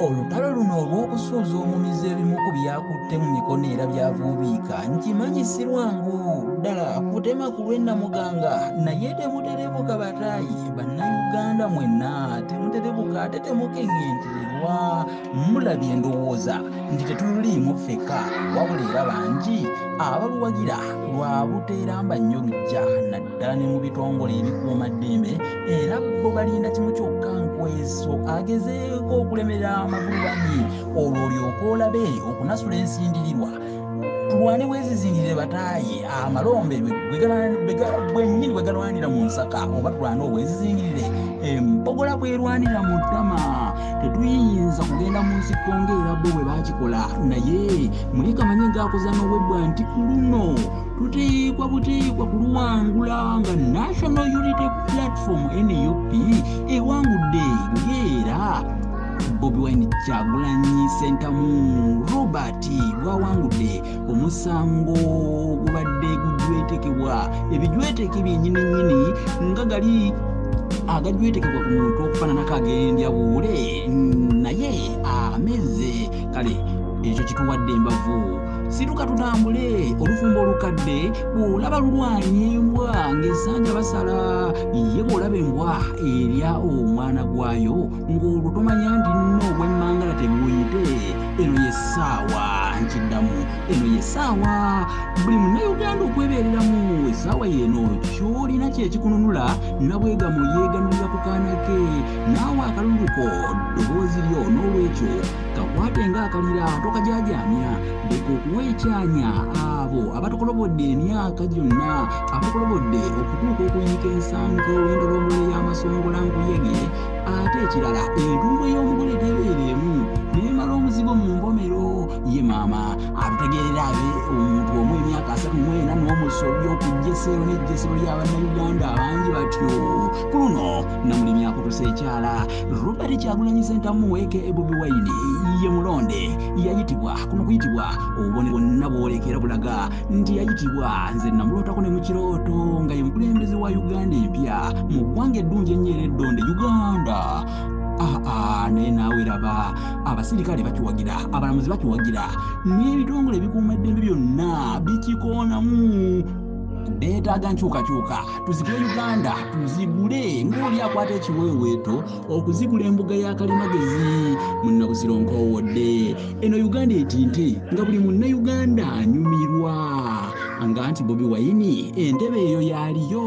olutalo luno olw'okusuuza omumizi ebimu ku byakutte mu mikono era byavuubiika nkimanyi si lwangu ddala kutema ku lwennamuganga naye temuterebuka bataayi bannayuganda mwena temuterebuka ate temukeŋentererwa mulabye endowooza nti tetuliimu ffeka wabula era bangi abaluwagira lwa buteeramba nnyo lujja naddala ne mu bitongole ebikuuma ddembe era bo balinda kimu kyokka nkweso agezeeko okulemera amagulu banyi olwo olyoka olabe okunasula ensindirirwa tulwane bwezizingirire bataaye amalombe bwenyini bwegalwanira mu nsaka oba tulwane obwezizingirire empogola bwerwanira mu ttama tetuyinza kugenda mu nsiko ngaera bo bwe bakikola naye muyika manyi gakoza n'obwebbwa nti ku luno tuteekwa buteekwa kuluwangula nga national unity platform nup ewangudde ngaera bobi wine kyagulanyi sentamu robert kati gwawangudde omusango gubadde gujwetekebwa ebijweteke byenyini nyini nga gali agajwetekebwa ku muntu okufananako agendya buule naye ameze kale ekyo kituwadde embavu situka tutambule olufumbo olukadde bwolaba lulwanya embwa ng'esanja basala ye bwolaba embwa erya omwana gwayo ng'olwo tomanya ndi nno obwemmangala tebuwuyite eno ye ssaawa nkiddamu eno ye ssaawa buli munnayuganda okwebeereramu essaawa yeeno kyolina kyekikununula nabwegamo yeeganulira ku kaana ke naawe akaluluko ddoboozi lyo n'olwekyo kakwate ng'akalira tokajajaamya leka okuwa ekyanya abo abatukolobodde emyaka gyonna abatukolobodde okutuuka okuyiika ensanke olw'endolombola y'amasongola nkuyege ate ekirala entungo ey'omugole tebeera emu nemala omuzigo mu mbomero ye maama atutegeerera abe omuntu omu emyaka asatu mwena n'omusobya okujja eseero n'ejjesero lya bannayuganda abangi batyo ku luno namulimi akutusa ekyala robert kyagulanyi sentamu eke ebobi waini ye mulonde yayitibwa kuno kuyitibwa obubone bwonna bwolekera bulaga nti yayitibwa nze namulootako ne mu kirooto nga ye mukulembeze wa uganda empya mu ggwanga eddungi ennyo era eddonde uganda aa ah, ah, naye naawe raba abasirikale bakiwagira abalamuzi bakiwagira n'ebitongole ebikuuma eddembe byonna bikikoonamu beetaaga nkyukakyuka tuzigule uganda tuzigule ng'oli akwata ekiweeweeto okuzikula embuga ya kalimagezi munnabuziro nkowodde eno uganda etinte nga buli munnayuganda anyumirwa nga nti bobi wayini entebe eyo yaliyo